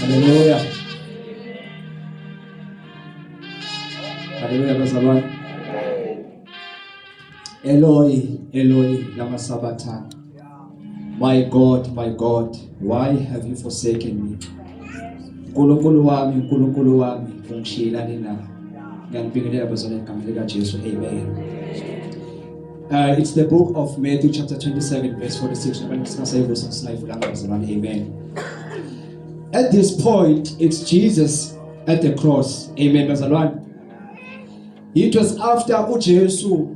Haleluya. Haleluya bazalwane. Eloi, Eloi lama sabatha. My God, my God, why have you forsaken me? Nkulunkulu wami, Nkulunkulu wami, ungishiyelani na? Ngiyakubingelela bazalwane egameni likaJesu. Amen. Uh, it's the book of Matthew chapter 27 verse 46. Amen. At this point, it's Jesus at the cross. Amen. It was after uJesu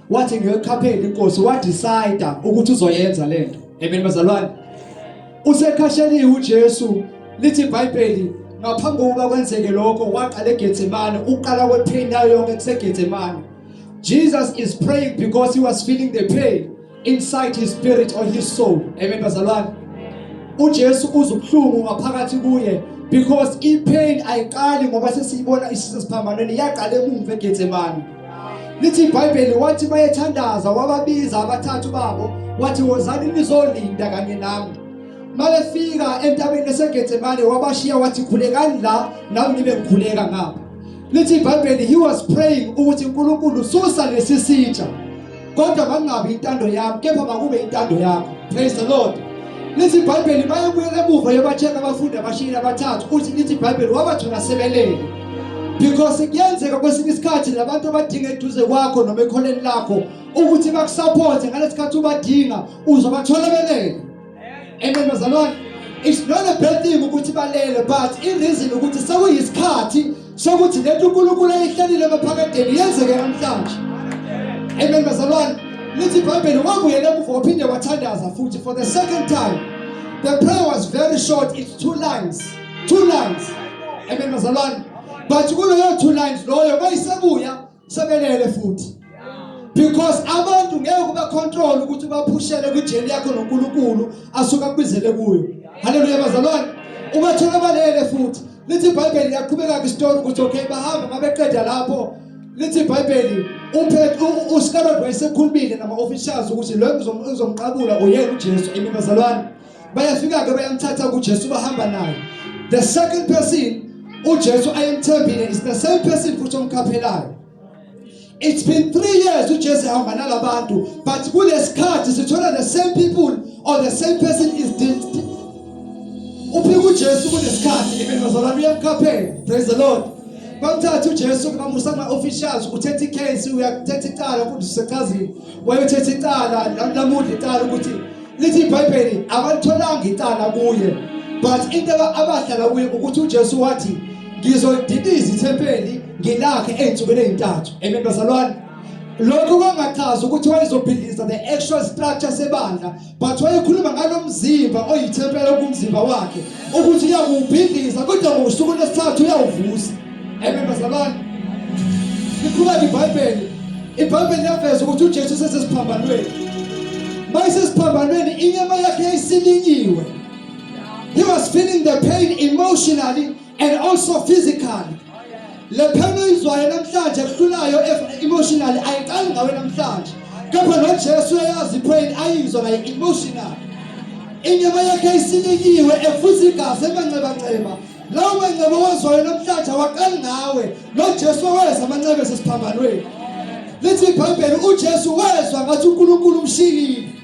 wathi ngiyokhaphela inkosi wadecide ukuthi uzoyenza lento amen bazalwane usekhasheliwe uJesu lithi iBhayibheli ngaphambi kokuba kwenzeke lokho waqala eGetsemane uqala kwepain yayo yonke kuseGetsemane Jesus is praying because he was feeling the pain inside his spirit or his soul amen bazalwane uJesu uzubuhlungu ngaphakathi kuye because ipain ayiqali ngoba sesiyibona isisiphambanweni yaqala emuva eGetsemane lithi ibhayibheli wathi bayethandaza wababiza abathathu babo wathi wozani nizolinda kanye nami mabefika entabeni esegetsemane wabashiya wathi khulekani la nami ngibe ngikhuleka ngapha lithi ibhayibheli he was praying ukuthi unkulunkulu susa lesi sitsha kodwa bangabi intando yami kepha makube intando yakho praise the lord lithi ibhayibheli bayebuyela emuva yobatsheka abafundi abashiyile abathathu uthi lithi ibhayibheli wabathola sebelele because kuyenzeka kwesinye isikhathi labantu abadinga eduze kwakho noma ekholeni lakho ukuthi bakusaphothe ngalesikhathi ubadinga uzobathola belele Amen bazalwane. It's not a bad thing ukuthi balele but in reason ukuthi sekuyisikhathi sokuthi lento uNkulunkulu ayihlalile ebaphakadeni yenzeke namhlanje. Amen bazalwane. Lithi iBhayibheli wabuyela emuva waphinde wathandaza futhi for the second time. The prayer was very short, it's two lines. Two lines. Amen bazalwane. But kuleyo two lines loyo bayisebuya sebelele futhi because abantu ngeke uba control ukuthi ubaphushele kwijeli yakho noNkulunkulu asuka kubizele kuyo haleluya bazalwane ubathola balele futhi lithi iBhayibheli liyaqhubeka ke story ukuthi okay bahamba mabeqeda lapho lithi iBhayibheli uphethe uScarlett wayesekhulumile nama officials ukuthi lo ngizomqabula uyena uJesu emibazalwane bayafika-ke bayamthatha kujesu bahamba naye the second person ujesu ayemthembile is the same person futhi omkhaphelayo it's been three years ujesu ehamba nalabantu but kulesikhathi sithola the same people or the same person is uphika ujesu kunesikhathi even bazalwane uyamkhaphela praise the lord bamthatha uJesu bamusa kuma officials uthethe icase uyathetha icala ukuthi usechazile wayothetha icala lamuhle icala ukuthi lithi ibhayibheli abalitholanga icala kuye but into abahlala kuye ukuthi ujesu wathi ngizolidiliza ithempeli ngilakhe ey'nsukwini ey'ntathu amen bazalwane lokho kwangachaza ukuthi wayezobhidliza the actual structure sebandla but wayekhuluma ngalo mzimba oyithempela okumzimba wakhe ukuthi uyakuwubhidliza kodwa ngosuku lwesithathu uyawuvusa amen bazalwane liqhubeka ibhayibheli ibhayibheli liyaveza ukuthi ujesu usesesiphambanweni ma isesiphambanweni inyama yakhe yayisilinyiwe he was feeling the pain emotionally and also physically le phela oyizwayo namhlanje kuhlulayo emotionally ayiqali ngawe namhlanje kepha nojesu uyayazi ipain ayizwa ngayo emotional inyama yakhe isilikiwe efuza igazi emanxebanxeba lawo manxeba owazwayo namhlanje awaqali ngawe nojesu waweza amanxeba esesiphambanweni lithi ibhayibheli ujesu wezwa ngathi unkulunkulu umshiyile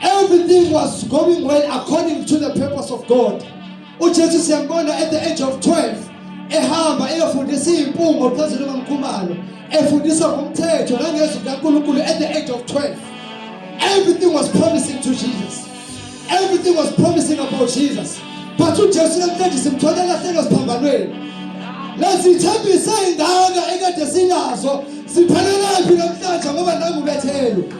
Everything was going well according to the purpose of God. UJesu siyambona at the age of 12 ehamba eyofundisa impungo phezulu komkhumalo efundisa ngomthetho nangezwi likaNkulunkulu at the age of 12. Everything was promising to Jesus. Everything was promising about Jesus. But uJesu namhlanje simthola lahlelo siphambanweni. Lezithembi seyingaka ekade sinazo siphelelaphi namhlanje ngoba nangu Bethelu.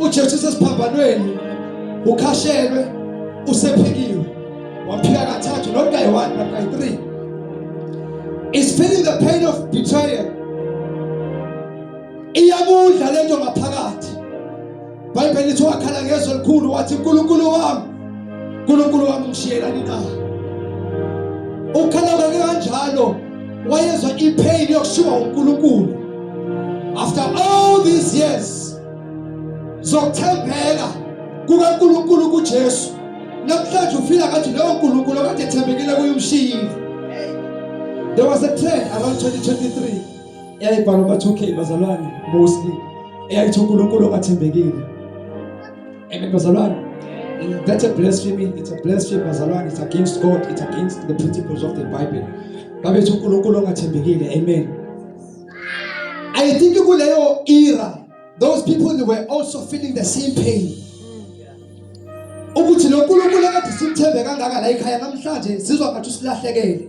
uJesu usesiphambanweni ukhashelwe usephikiwe waphika kathathu not guy 1 but guy 3 is feeling the pain of betrayal iyakudla lento ngaphakathi Bible lithi wakhala ngezwi elikhulu wathi uNkulunkulu wami uNkulunkulu wami ngishiyelani na ukhala kanjalo wayezwa ipain yokushiwa uNkulunkulu after all these years zokuthembeka kukaNkulunkulu kuJesu namhlanje ufila ngathi lowo Nkulunkulu okade ethembekile kuye umshiyile there was a trend around 2023 yayibhalwa ba 2K bazalwane mostly eyayithi uNkulunkulu ongathembekile Amen, bazalwane. That's a blasphemy. It's a blasphemy, bazalwane. It's against God. It's against the principles of the Bible. Babethu uNkulunkulu ongathembekile. Amen. I think kuleyo era, those people were also feeling the same pain. ukuthi lo Nkulunkulu akade simthembe kangaka la ekhaya namhlanje sizwa ngathi usilahlekele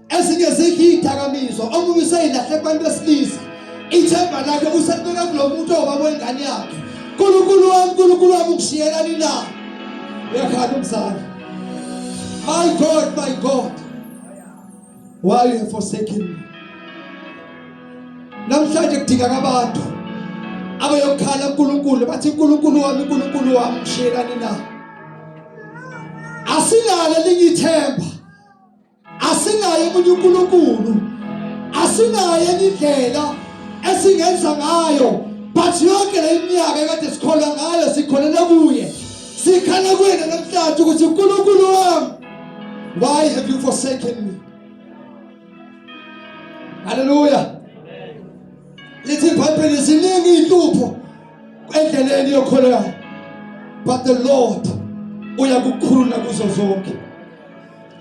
ezinye zidla iy'dakamizwa omunye useyilahle kubantu besilisa ithemba lakhe uselibeka kulo muntu owubaba wengane yakhe nkulunkulu wami nkulunkulu wami ukushiyelani na uyakhala umzali my god my god why you have forsaken me namhlanje kudingaka abantu abayokhala uNkulunkulu bathi uNkulunkulu wami uNkulunkulu wami ngishiyelani na asilale lingithemba asinaye omunye uNkulunkulu asinaye enye indlela esingenza ngayo but yonke le minyaka ekade sikholwa ngayo sikholele kuye sikhala kuyena namhlanje ukuthi uNkulunkulu wami why have you forsaken me haleluya lithi ibhayibheli ziningi iy'nhlupho endleleni yokholo yakho but the lord uyakukhulula kuzo zonke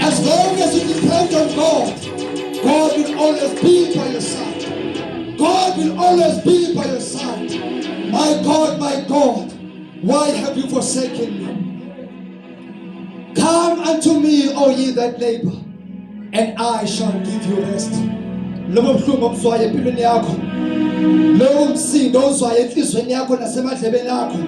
As long as you depend on God, God will always be by your side. God will always be by your side. My God, my God, why have you forsaken me? Come unto me, O ye that labor, and I shall give you rest. lobo buhlungu obuzwayo empilweni yakho lowo msindo ozwayo enhliziyweni yakho nasemadlebeni akho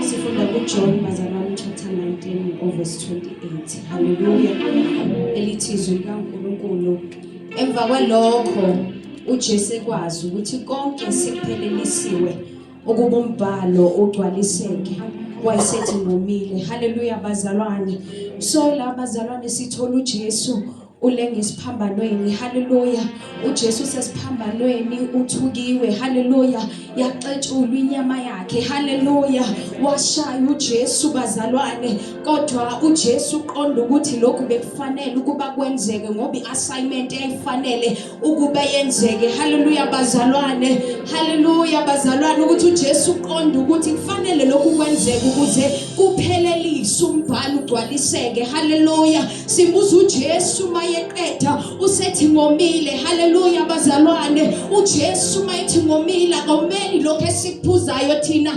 sifunda kujohn bazalwane chapter 19 overse 28 halleluya elithi izwi likankulunkulu emva kwalokho ujesu ekwazi ukuthi konke sekuphelelisiwe ukuba umbhalo ugcwaliseke wayesethi ngomile halleluya bazalwane so la bazalwane sithola ujesu ulenga isiphambanweni haleluya uJesu sesiphambanweni uthukiwe haleluya yaxetshulwa inyama yakhe haleluya washaya uJesu bazalwane kodwa uJesu uqonda ukuthi lokhu bekufanele ukuba kwenzeke ngoba iassignment eyayifanele ukube yenzeke haleluya bazalwane haleluya bazalwane ukuthi uJesu uqonda ukuthi kufanele lokhu kwenzeke ukuze kuphelelise umbhalo ugcwaliseke haleluya sibuza uJesu mayeqeda usethi ngomile haleluya bazalwane uJesu mayethi ngomile akomeli lokho esikuphuzayo thina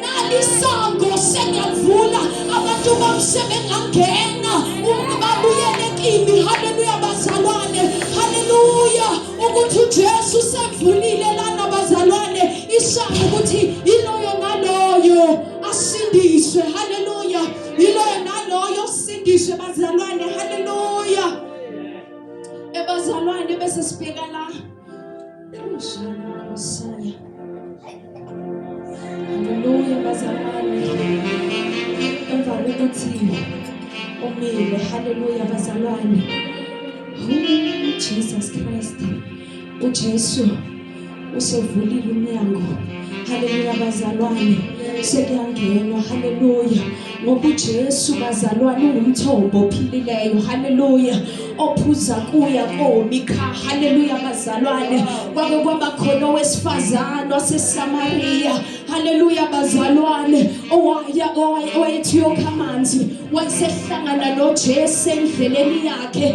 nalisango sengavula abantu bamse bengangena babuyele kimi haleluya bazalwane haleluya ukuthi ujesu sevulile lana bazalwane isango ukuthi iloyo naloyo asindiswe haleluya iloyo naloyo sindiswe bazalwane haleluya ebazalwane bese sibheka la Haleluya bazalwane. Emva kokuthi umile, haleluya bazalwane. Jesus Christ. UJesu usevulile umnyango. Haleluya bazalwane. Sekuyangenwa. Haleluya. ngoba uJesu bazalwane ungumthombo ophilileyo haleluya ophuza kuya komikha haleluya bazalwane kwake kwaba khona owesifazane waseSamaria haleluya bazalwane owaya owayethi yokha amanzi wayesehlangana noJesu endleleni yakhe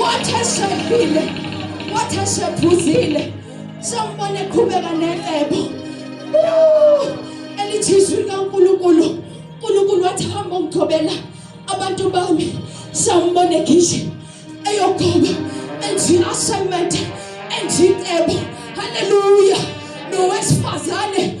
Wathi eshadile, wathi eshephuzile, sambone eqhubeka necebo. Elithi izwi likaNkulunkulu, uNkulunkulu wathi hamba ungithobela abantu bami, sambone egishe eyogoba enzi assignment enzi cebo. Hallelujah. Nowesifazane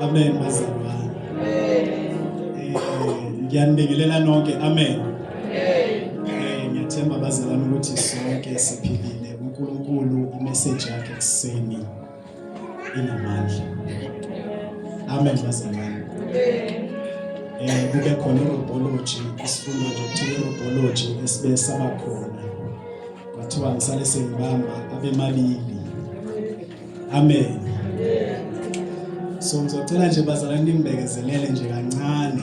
Amen bazalwane. Eh, ngiyanibingelela nonke. Amen. Eh, ngiyathemba bazalwane ukuthi sonke siphilile uNkulunkulu imeseji yakhe kuseni inamandla amen bazalwane eh kube khona irobology isifundo nje kuthiwa irobology esibe saba khona kwathiwa ngisale sengibamba abemabili amen so ngizocela nje bazalwane nimbekezelele nje kancane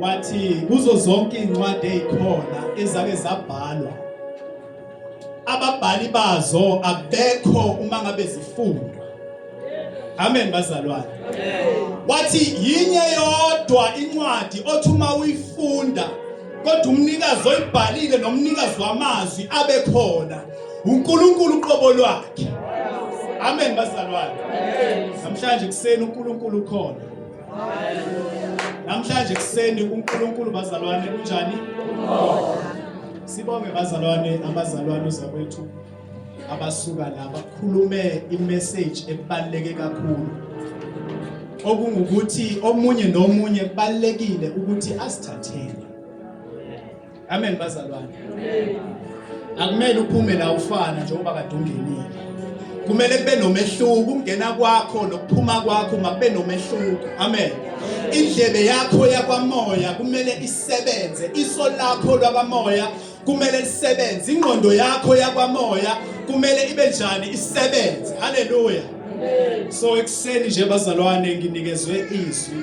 wathi kuzo zonke izincwadi ezikhona ezake zabhalwa ababhali bazo abekho uma ngabe zifundwa amen bazalwane wathi yinye yodwa incwadi othi uma uyifunda kodwa umnikazi oyibhalile nomnikazi wamazwi abe khona uNkulunkulu uqobo lwakhe amen bazalwane namhlanje kuseni uNkulunkulu ukhona Namhlanje kuseni uNkulunkulu bazalwane kunjani? Sibonge bazalwane abazalwane uzakwethu abasuka la bakhulume imessage ebaleke kakhulu. Okungukuthi omunye nomunye kubalekile ukuthi asithathele Amen bazalwane. Akumele uphume la ufana njengoba kade ungenile. Kumele kube nomehluko ukungena kwakho nokuphuma kwakho makube nomehluko. Amen. Indlebe yakho yakwamoya kumele isebenze, iso lakho lwakamoya kumele lisebenze, ingqondo yakho yakwamoya kumele ibe njani isebenze. Haleluya. So ekuseni nje bazalwane nginikezwe izwi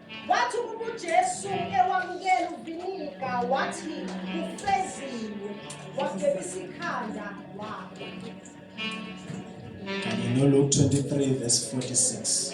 Wathi ukuba uJesu ewamukela uviniga wathi kufeziwe wabhebisa ikhanda wakhe. Kanye noLuke 23 verse 46.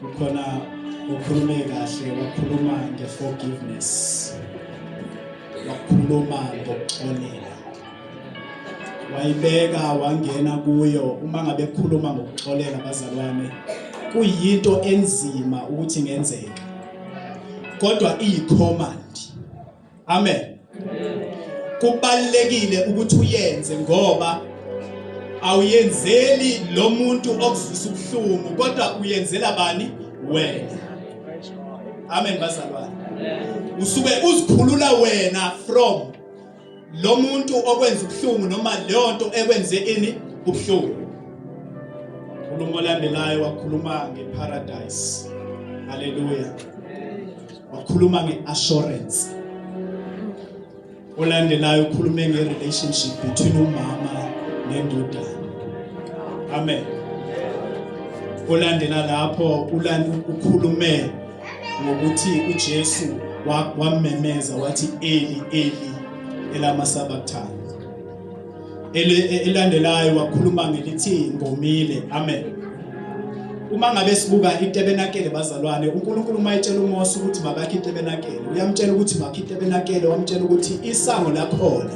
kukhona ukhulume kahle wakhuluma nge-forgiveness wakhuluma ngokuxolela wayibeka wangena kuyo uma ngabe khuluma ngokuxolela bazalwane kuyinto enzima ukuthi ngenzeka kodwa iyicommand amen kubalekile ukuthi uyenze ngoba awuyenzeli lo muntu okuzwisa ubuhlungu kodwa uyenzela bani wena amen bazalwane usuke uzikhulula wena from lo muntu okwenza ubuhlungu noma leyo nto ekwenze ini ubuhlungu unkulumo olandelayo wakhuluma ngeparadise haleluya wakhuluma nge-assurance olandelayo ukhulume nge-relationship between umama nendodana amen olandela lapho ukhulume ngokuthi ujesu wamemeza wathi eli eli elamasabakthana elandelayo wakhuluma ngelithi ngomile amen uma ngabe sibuka itabernacle bazalwane uNkulunkulu uma etshela uMose ukuthi makakhe itabernacle uyamtshela ukuthi makhe itabernacle wamtshela ukuthi isango lakhona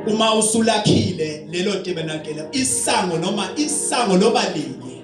uma usulakhile lelo tabernacle isango noma isango loba linye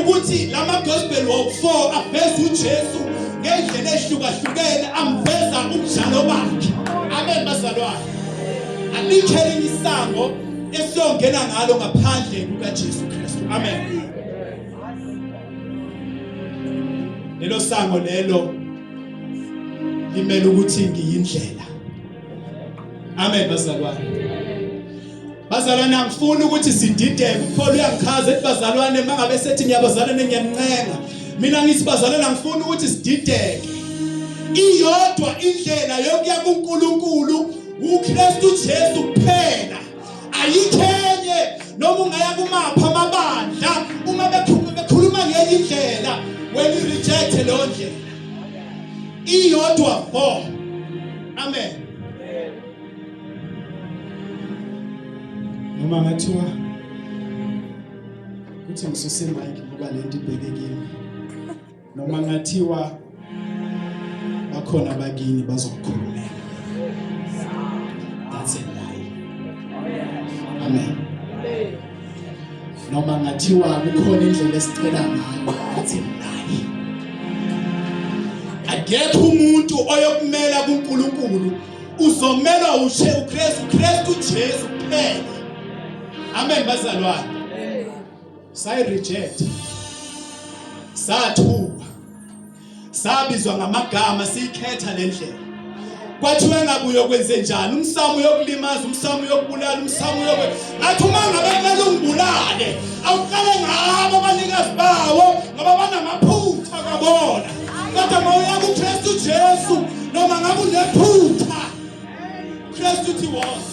ukuthi lama gospel wokufour aveza uJesu ngendlela ehlukahlukene amveza umdlalo bakhe amen bazalwane alikhe elinye isango esiyongena ngalo ngaphandle kukaJesu Kristu amen lelo sango lelo limele ukuthi ngiyindlela amen bazalwane bazalwane angifuni ukuthi sidideke upholo uyangichaza ethi bazalwane mangabe sethi ngiyabazalana ngiyanincenga mina ngithi bazalwane angifuni ukuthi sidideke iyodwa indlela yokuya kuNkulunkulu uKristu Jesu kuphela ayikhenye noma ungaya kumapha amabandla uma bekhuluma ngenye indlela wena reject leyo ndlela iyodwa bo Amen. Noma ngathiwa kuthi ngisuse mike ngoba lento ibheke kimi. Noma ngathiwa bakhona bakini bazokukhulumela. That's it. Amen. noma ngathiwa kukhona indlela esicela ngayo ngathi nayi akekho umuntu oyokumela kuNkulunkulu uzomelwa ushe uKristu uKristu uJesu kuphela amen bazalwane sayi reject sathuka sabizwa ngamagama siyikhetha le ndlela kwathiwa engabuye okwenze njani umsamo uyokulimaza umsamo uyokubulala umsamo uyoku ngathi uma ngabe kumele ungibulale awuqale ngabo abanikazi bawo ngoba banamaphutha kabona kodwa uma uya kukristu jesu noma ngabe unephutha kristu uthi was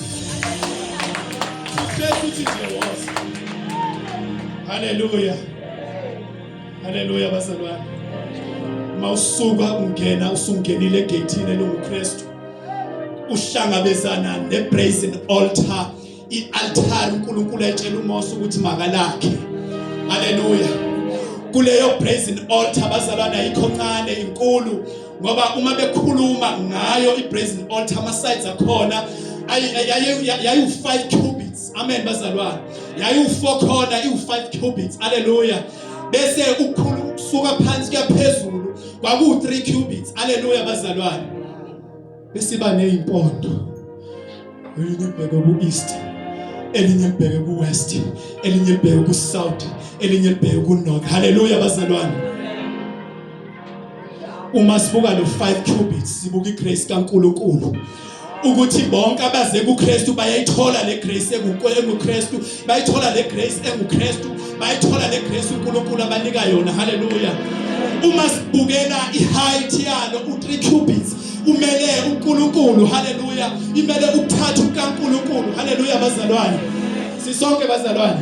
kristu uthi nje was haleluya Haleluya bazalwane. Mawusuka ungena usungenile egethini elunguKristu. Uhlangabezana nebrazen altar, ialtar uNkulunkulu etshela uMose ukuthi makalakhe. Haleluya. Kuleyo brazen altar bazalwane ayikho ncane inkulu ngoba uma bekhuluma ngayo ibrazen altar ama sides akhona ayi ayi ayi 5 cubits amen bazalwane yayiwu-four corner iwu-five cubits aleluya bese ukhulu ukusuka phansi kuyaphezulu kwakuwu-three cubits aleluya bazalwane besiba neyimpondo elinye libheke ku-east elinye libheke ku-west elinye libheke ku-south elinye libheke ku-north haleluya bazalwane uma sibuka lo 5 cubits sibuka igrace kaNkuluNkulu ukuthi bonke abaze kuKristu bayayithola le grace enguKristu bayithola le grace enguKristu bayithola le grace uNkulunkulu abanika yona haleluya uma sibukela iheight yalo u3 cubits umele uNkulunkulu haleluya imele ukuthatha uNkulunkulu haleluya bazalwane sisonke bazalwane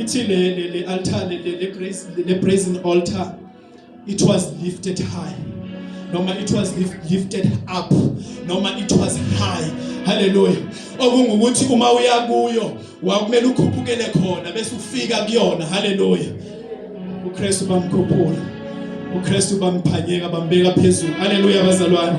ithi le le le altar le le grace le brazen altar it was lifted high noma it was lifted up noma it was high haleluya okungukuthi uma uya kuyo wakumele ukhuphukele khona bese ufika kuyona haleluya uKristu bamkhuphula uKristu bamphanyeka bambeka phezulu haleluya bazalwane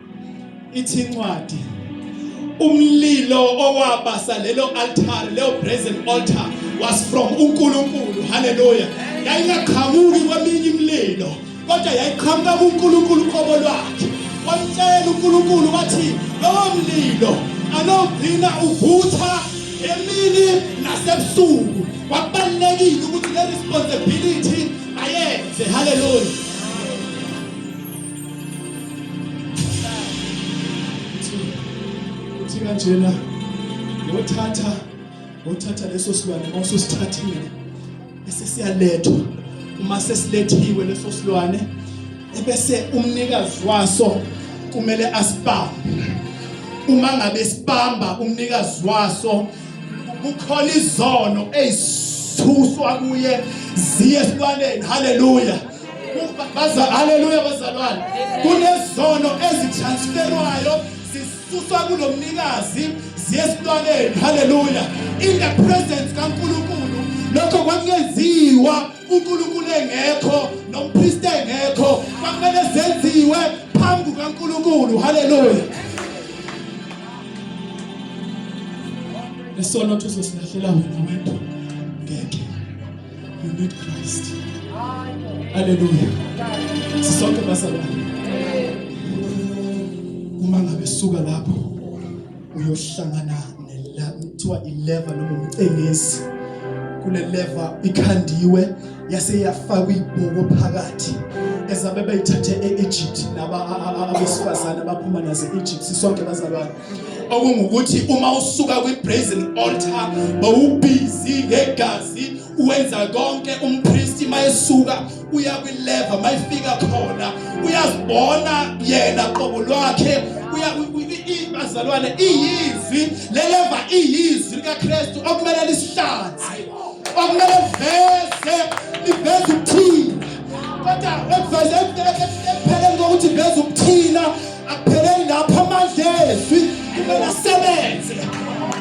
ithi incwadi umlilo owabasa lelo altar leyo brazen altar was from uNkulunkulu haleluya yayingaqhamuki kweminye imlilo kodwa yayiqhamuka kuNkulunkulu qobo lwakhe wamtshela uNkulunkulu wathi lowo mlilo anogcina uvutha emini nasebusuku kwabalekile ukuthi le responsibility ayenze haleluya uthi kanjena ngothatha ngothatha leso silwane uma usosithathile bese siyalethwa uma sesilethiwe leso silwane ebese umnikazi waso kumele asibambe uma ngabe sibamba umnikazi waso kukhona izono ezithuswa kuye ziye esilwaneni haleluya Haleluya bazalwane. Kunezono ezitransferwayo zisuswa kulomnikazi ziyesitwaneni. Haleluya. In the presence kaNkulunkulu lokho kwakungenziwa uNkulunkulu engekho nompriest engekho kwakumele zenziwe phambi kaNkulunkulu. Haleluya. Isono uthi uzosilahlela wena wena. You need Christ. Hallelujah. Sisonke bazalwane. Uma ngabe suka lapho uyohlangana kuthiwa ileva noma umcengezi kule leva ikhandiwe yase yafakwa ibhuku phakathi ezabe bayithathe e-Egypt laba abesifazane abaphuma naze-Egypt sisonke bazalwane okungukuthi uma usuka kwi-brazen altar bowubhizi ngegazi wenza konke umpristi mayesuka uya kwileva mayifika khona uyazibona yena qobo lwakhe bazalwane iyizwi leleva iyizwi likaKristu okumele lisihlanze okumele veze liveze ukuthina kodwa ekuveze ekupheleni kokuthi veze ukuthina akupheleli lapho amandla ezwi kumele asebenze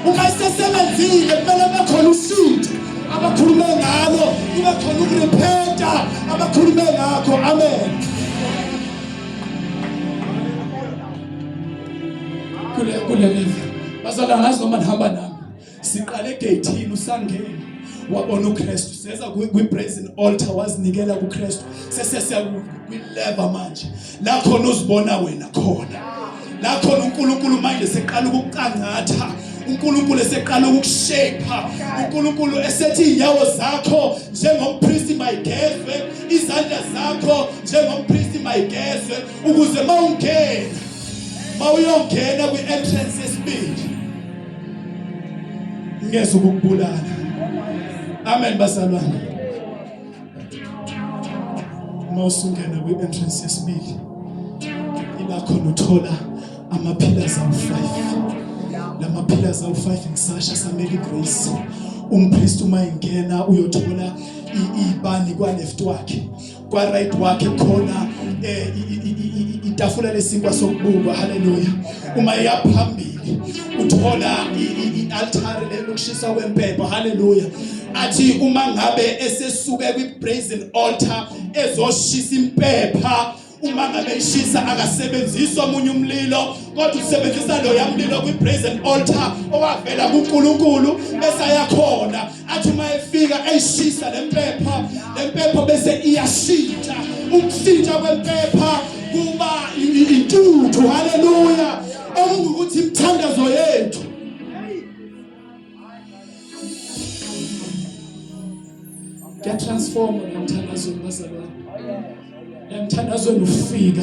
uma esesebenzile kumele kube khona ushintsho abakhulume ngalo kube khona ukurepenta abakhulume ngakho amen kule kule live bazalwa ngazi noma nihamba nami siqale egeyithini usangeni wabona uKristu seza kwi-brazen altar wazinikela kuKristu sesesiya kwi-lever manje la khona uzibona wena khona la khona uNkulunkulu manje seqala ukucangatha uNkulunkulu eseqala ukukushape uNkulunkulu esethi inyawo zakho njengompristi mayigezwe izandla zakho njengompristi mayigezwe ukuze mawungena mawuyongena kwi-entrance yesibili ngeze ukubulala amen basalwana uma usungena kwi-entrance yesibili iba khona uthola ama-pillars awu-five la ma-pillars awu-five ngisasha samele igrace umpristi uma engena uyothola ibani kwa-left wakhe kwa right wakhe khona eh, itafula lesinkwa sokubukwa haleluya uma iyaphambili uthola ialtare lelokushisa kwempepho haleluya athi uma ngabe esesuke kwi brazen altar ezoshisa impepha uma ngabe ishisa akasebenzisi omunye umlilo kodwa usebenzisa loya mlilo kwi-brazen altar owavela kuNkulunkulu bese ayakhona athi uma efika eyishisa le mpepha le mpepha bese iyashintsha ukushintsha kwempepha kuba intuthu haleluya okungukuthi imithandazo yethu kuyatransforma nomthandazo wabazalwane emthandazweni ufika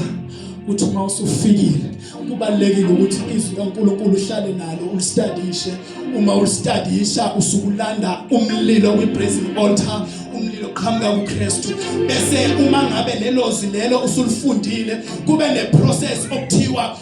uthi uma usufikile kubalekile ukuthi izwi kaNkuluNkulu uhlale nalo ulistadishe uma ulistadisha usukulanda umlilo kwibrazen altar umlilo qhamuka kuKristu bese uma ngabe lelo zilelo usulifundile kube neprocess okuthiwa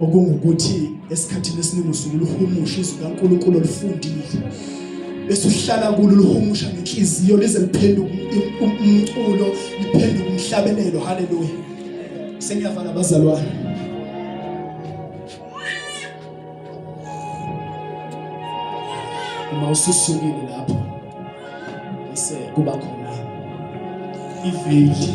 okungukuthi esikhathini esiningi usuke uluhumusha izwi kaNkulunkulu olifundile bese uhlala kulo uluhumusha ngenhliziyo lize liphenduke umculo liphenduke umhlabelelo haleluya sengiyavala abazalwane uma ususukile lapho bese kuba khona iveli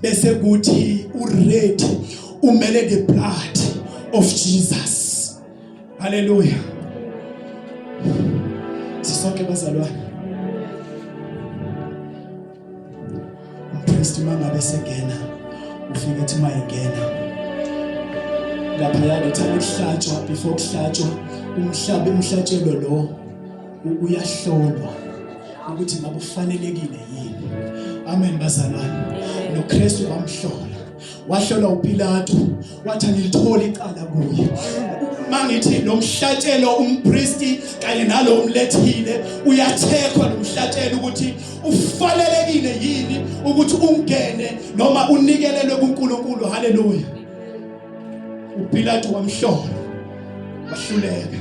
bese kuthi uready umele the blood of Jesus haleluya sisonke bazalwane umpriest mangabe sengena ufike ethi mayengena lapha yake thana kuhlatshwa before kuhlatshwa umhlabe umhlatshelo lo uyahlolwa ukuthi ngabe ufanelekile yini amen bazalwane noKristu wamhlola wahlolwa uPilato wathi angilitholi icala kuye mangithi lo mhlatshelo umpristi kanye nalo umlethile uyathekwa lo mhlatshelo ukuthi ufanelekile yini ukuthi ungene noma unikelelwe kuNkulunkulu haleluya uPilato wamhlola wahluleka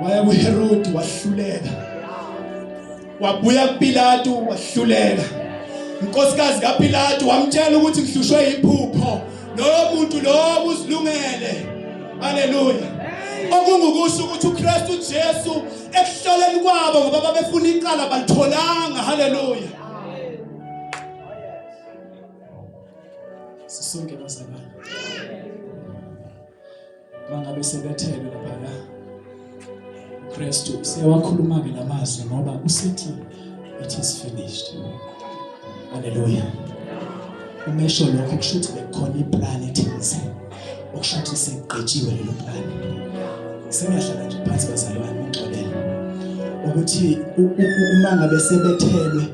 waya kuHerodi wahluleka wabuya kuPilatu wahluleka inkosikazi kaPilatu wamtshela ukuthi ngihlushwe iphupho lowo muntu lowo uzilungele haleluya okungukusho ukuthi uKristu Jesu ekuhloleni kwabo ngoba babefuna iqala balitholanga haleluya sisonke bazalwane bangabe sebethelwe laphaya Kristu siyawakhuluma ke lamazwi ngoba usithi it is finished haleluya umesho lokho kusho ukuthi bekukhona iplan ethize okusho ukuthi segqitshiwe lelo plan sengahlala nje phansi bazalwane ngixolele ukuthi uma ngabe sebethelwe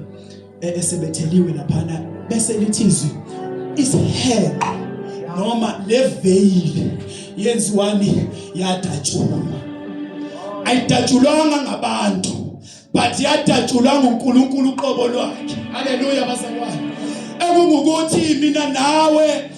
e-, esebetheliwe laphana bese lithi izwi isiheqo noma leveyili yenziwani yadatshulwa ayidatshulwanga ngabantu but yadatshulwa nguNkulunkulu uqobo lwakhe haleluya bazalwane ekungukuthi mina nawe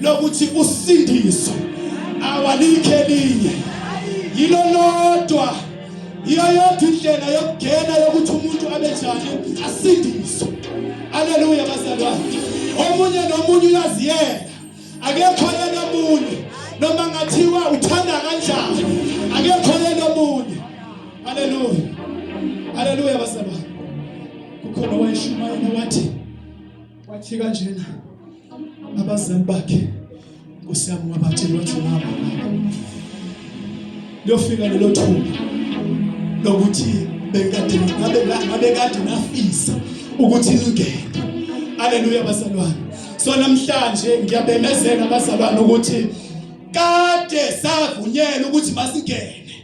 lokuthi usindiso awalikho elinye yilo lodwa yiyo yodwa indlela yokugena yokuthi umuntu abe njani asindiswe aleluya bazalwane omunye nomunye uyaziyela akekho yena omunye noma ngathiwa uthanda kanjani akekho yena omunye aleluya aleluya bazalwane kukhona owayeshumayela wathi Wathi kanjena abazali bakhe Nkosi yami wabatshela wathi mama liyofika lelo thuba lokuthi bekade ngabe ngabe kade nafisa ukuthi lingene haleluya bazalwane so namhlanje ngiyabemezela abazalwane ukuthi kade savunyelwa ukuthi masingene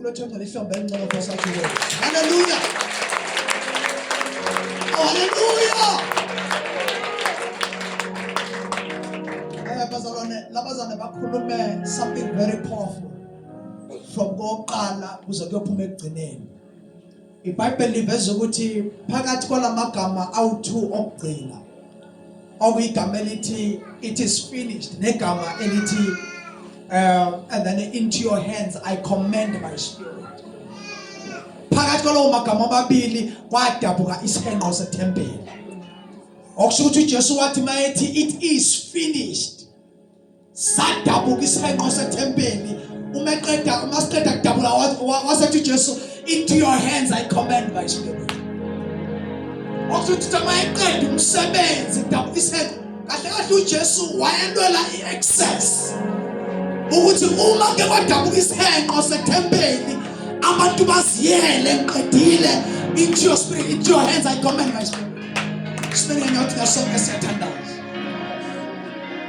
Ulothando lihlombe elincane Nkosi athi kuwe. Haleluya. Haleluya. Eh bazalwane, labazane bakhulume something very powerful from koqala kuze kuyophuma ekugcineni. IBhayibheli liveza ukuthi phakathi kwalamagama awu2 okugcina okuyigama elithi it is finished negama elithi um and then into your hands I commend my spirit phakathi kwalawo magama amabili kwadabuka isihenqo sethempeli okusho ukuthi uJesu wathi mayethi it is finished sadabuka isihenqo sethempeli uma eqeda uma siqeda kudabula wasethi uJesu into your hands i command my spirit okuthi uma eqeda umsebenzi dabuka isihenqo kahle kahle uJesu wayentwela i-access ukuthi uma ke kwadabuka isihenqo sethempeli abantu baziyele ngiqedile into your spirit into your hands i command my spirit spirit ngiyothi ngasonke siyathandaza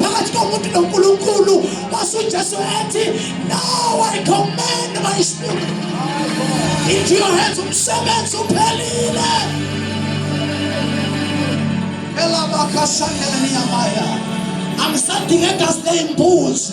phakathi komuntu noNkulunkulu kwase uJesu ethi now I command my spirit into your hands umsebenzi uphelile elabakashandeleniya maya angisadingeka sine imbuzi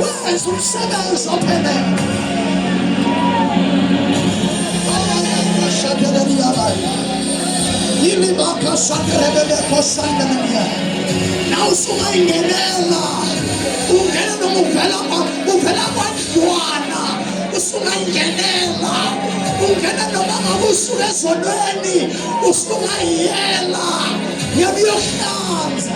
wenza umsebenzi ophelele yini bakhasakerebelekhosandanamya na usungayingenela ungena noma uvela uvela kwandlwana usungayingenela ungena noma ngabe usuka ezonweni usungayiyela ngiyabuyohlanza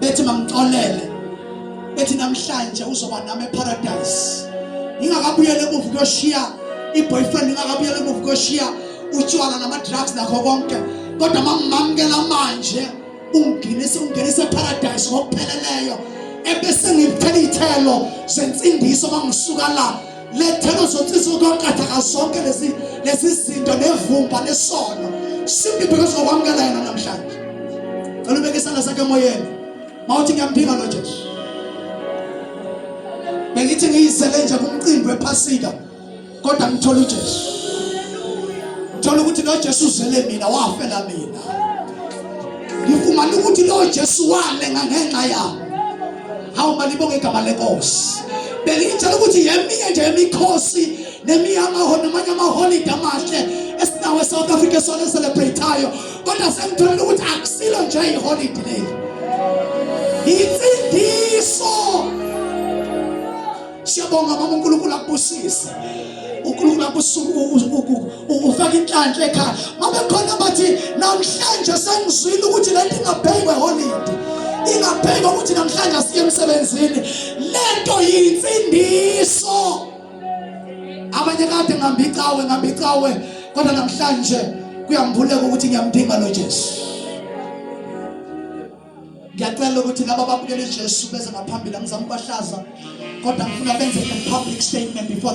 bethi mangixolele bethi namhlanje uzoba nami eparadise ngingakabuyele emuva kuyoshiya iboyfriend ngingakabuyele emuva kuyoshiya utshwala nama drugs nakho konke kodwa mamamkela manje unginise ungenise eparadise ngokupheleleyo ebese ngithela ithelo sentsindiso mangisuka la lethela uzothisa ukwaqatha zonke lezi lezi zinto nevumba lesono simply because okwamukela yena namhlanje cela ubeke isandla sakhe emoyeni mawuthi ngiyamphika lo Jesu bengithi ngiyisele nje kumcimbi wephasika kodwa ngithola uJesu thola ukuthi lo Jesu uzele mina wafela mina ngifumana ukuthi lo Jesu wale ngangenxa yami hawu malibonge igama lenkosi belitshela ukuthi yeminye nje yemikhosi nemiyaho namanye amaholide amahle esinawo eSouth Africa esona celebratayo kodwa sengitholile ukuthi akusilo nje iholide leli yinsindiso Siyabonga mama uNkulunkulu akubusise. uNkulunkulu akusuku ufaka inhlanhla ekhaya. Mama khona bathi namhlanje sengizwile ukuthi lento ingabhekwe holide. Ingabhekwa ukuthi namhlanje siye emsebenzini. Lento yinsindiso. Abanye kade ngambicawe ngambicawe kodwa namhlanje kuyambuleka ukuthi ngiyamdinga lo Jesu. ngiyacela ukuthi laba babukela ijesu beze ngaphambili angizama ukubahlaza kodwa ngifuna benze a public statement before